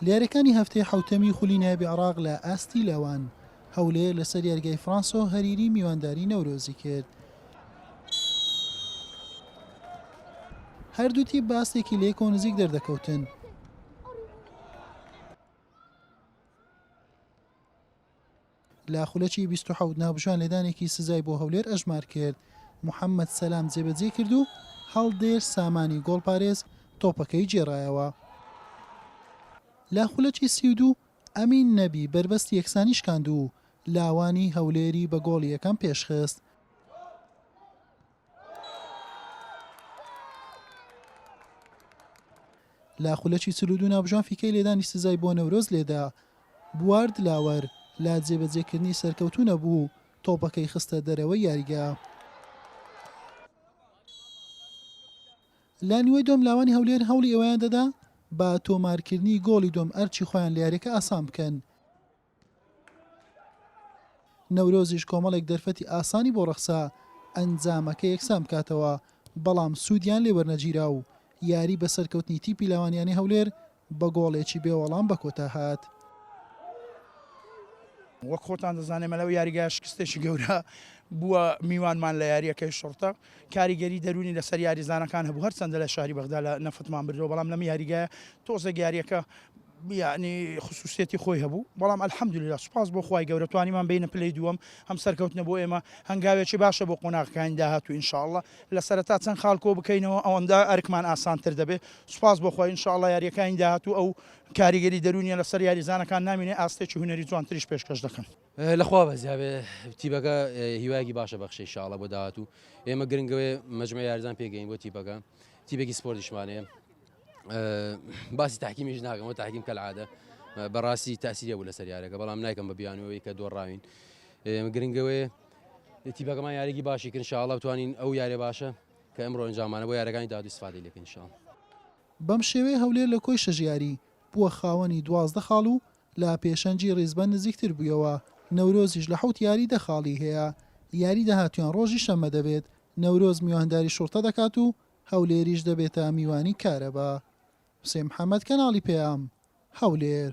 لیارەکانی هەفتەی حەوتەمی خولی نایابی عێراق لە ئاستی لاوان، هەولێر لەسەر یاریگای فرانسۆ هەریری میوانداری نەورۆزی کرد. هەردوو تیپ بە ئاستێکی لێک و نزیک دەردەکەوتن. لە خولەکی بیست و حەوت ناوبژیوان لێدانێکی سزای بۆ هەولێر ئەژمار کرد، محەمەد سەلام جێبەجێی کرد و هەڵدێر سامانی گۆڵپارێز تۆپەکەی گێڕایەوە. لە خولەکی سی و دوو ئەمین نەبی بەربەستی یەکسانی شکاند و لاوانی هەولێری بە گۆڵی یەکەم پێشخست. لە خولەکی چل و دوو ناوبژان فیکەی لێدانی سزای بۆ نەورۆز لێدا بوار دلاوەر لە جێبەجێکردنی سەرکەوتوو نەبوو تۆپەکەی خستە دەرەوەی یاریگا. لە نیوەی دۆم لاوانی هەولێر هەوڵی ئەوەیان دەدا بە تۆمارکردنی گۆڵی دۆم ئەرچی خۆیان لە یاریەکە ئاسان بکەن نەورۆزیش کۆمەڵێک دەرفەتی ئاسانی بۆ ڕەخسا ئەنجامەکە یەکسان بکاتەوە، بەڵام سوودیان لێ وەرنەگیرا و یاری بە سەرکەوتنی تیپی لاوانیانی هەولێر بە گۆڵێکی بێ وەڵام بە کۆتا هات. وەک خۆتان دەزانێ مەلەو یاریگایە شکستێکی گەورە بووە میوانمان لە یارییەکەی شوڕتە کاریگەری دەرونی لەسەر یاریزانەکان هەبوو هەرچەندە لە شاری بەغدا لە نەفتمان بردەوە بەڵام لەم یاریگایە تۆزێک یارییەکە یەعنی خسوسیەتی خۆی هەبوو بەڵام الحمدللە سوپاس بۆ خوای گەورە توانیمان بێینە پلەی دووەم هەم سەرکەوتنە بۆ ئێمە هەنگاوێکی باشە بۆ قۆناغەکانی داهاتوو ان شاء اللە لە سەرەتا چەند خاڵ کۆ بکەینەوە ئەوەندە ئەرکمان ئاسانتر دەبێت سوپاس بۆ خوای ان شاء اللە یاریەکانی داهاتوو ئەو کاریگەری دەروونیە لەسەر یاریزانەکان نامینێ ئاستێکی هونەری جوانتریش پێشکەش دەکەن. لە خوا بەزیا بێ تیپەکە هیوایەکی باشە بەخشێ ان شاء اللە بۆ داهاتوو ئێمە گرنگەوەیە مەجموعی یاریزان پێگەین بۆ تیپەکە تیپێکی سپۆرتیشمانەیە باسی تاکیمیش ناکەمەوە تاکیم کە عادە بەڕاستی تاسیری بوو لەسەر یارەکە بەڵام نایکەم بە بیانەوەی کە دۆڕاوین گرنگەوەی تیبەکەمان یاریی باشی کرد شاڵە بتوانین ئەو یارێ باشە کە ئەمڕۆ ئەنجامانە بۆ یارەکانی دادی سفادی لەکەین شاڵ بەم شێوەیە هەولێر لە کۆی شەش یاری بووە خاوەنی دوازدە خاڵ و لە پێشەنگی ڕیزبەند نزیکتر بوویەوە، نەورۆزیش لە حەوت یاری دە خاڵی هەیە، یاری داهاتوویان ڕۆژی شەممە دەبێت، نەورۆز میوانداری شوڕتە دەکات و هەولێریش دەبێتە میوانی کارەبا. حوسێن محەمەد، کەناڵی پەیام، هەولێر.